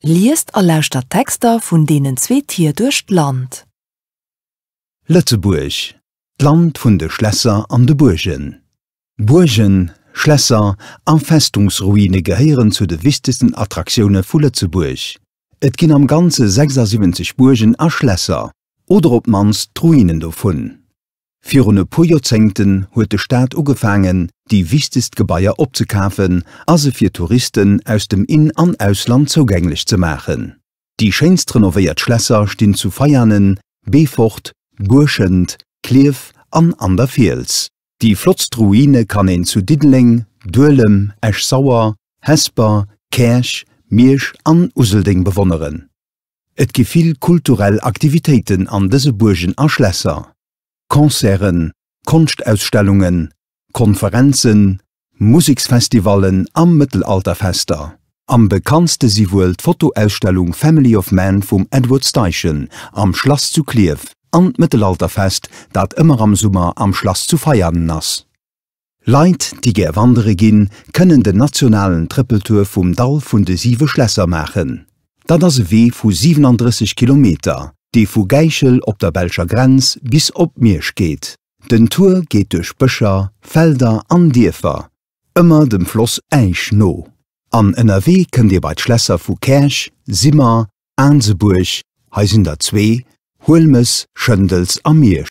Liest a lauschtert d'Texter vun deenen zwee Tier duerch d'Land. Lëtzebuerg, d'Land vun de Schlässer an de Buergen. Buergen, Schlässer a Festungsruine gehéieren zu de wichtegsten Attraktioune vu Lëtzebuerg. Et ginn am Ganze 76 Buergen a Schlässer, oder op d'mannst d'Ruinen dovun. Virun e puer Joerzéngten huet de Staat ugefaangen, déi wichtegst Gebaier opzekafen a se fir Touristen aus dem In an Ausland zougänglech ze maachen. Déi schéinst renovéiert Schlässer stinn zu Veianen, Beefort, Buerschent, Klierf an an der Fiels. Déi flottst Ruine kann een zu Diddeleng, Duelem, Esch-Sauer, Hesper, Käerch, Miersch an Useldeng bewonneren. Et gi vill kulturell Aktivitéiten an dëse Buergen a Schlässer, Concerten, Konschtausstellungen, Konferenzen, Museksfestivallen a Mëttelalterfester. Am bekanntste si wuel d'Fotoausstellung Family of Man vum Edward Steichen am Schlass zu Klierf an d'Mëttelalterfest, dat ëmmer am Summer am Schlass zu Veianen ass. Leit, déi gär wandere ginn, kënnen den nationalen Trëppeltour vum Dall vun de siwe Schlässer maachen. Dat ass e Wee vu 37 Kilometer, dee vu Gäichel op der belscher Grenz bis op Miersch geet. Den Tour geet duerch Bëscher, Felder an Dierfer, ëmmer dem Floss Äisch no. An ënnerwee kënnt Dir bei d'Schlässer vu Käerch, Simmer, Aansebuerg, hei sinn der zwee, Huelmes, Schëndels a Miersch.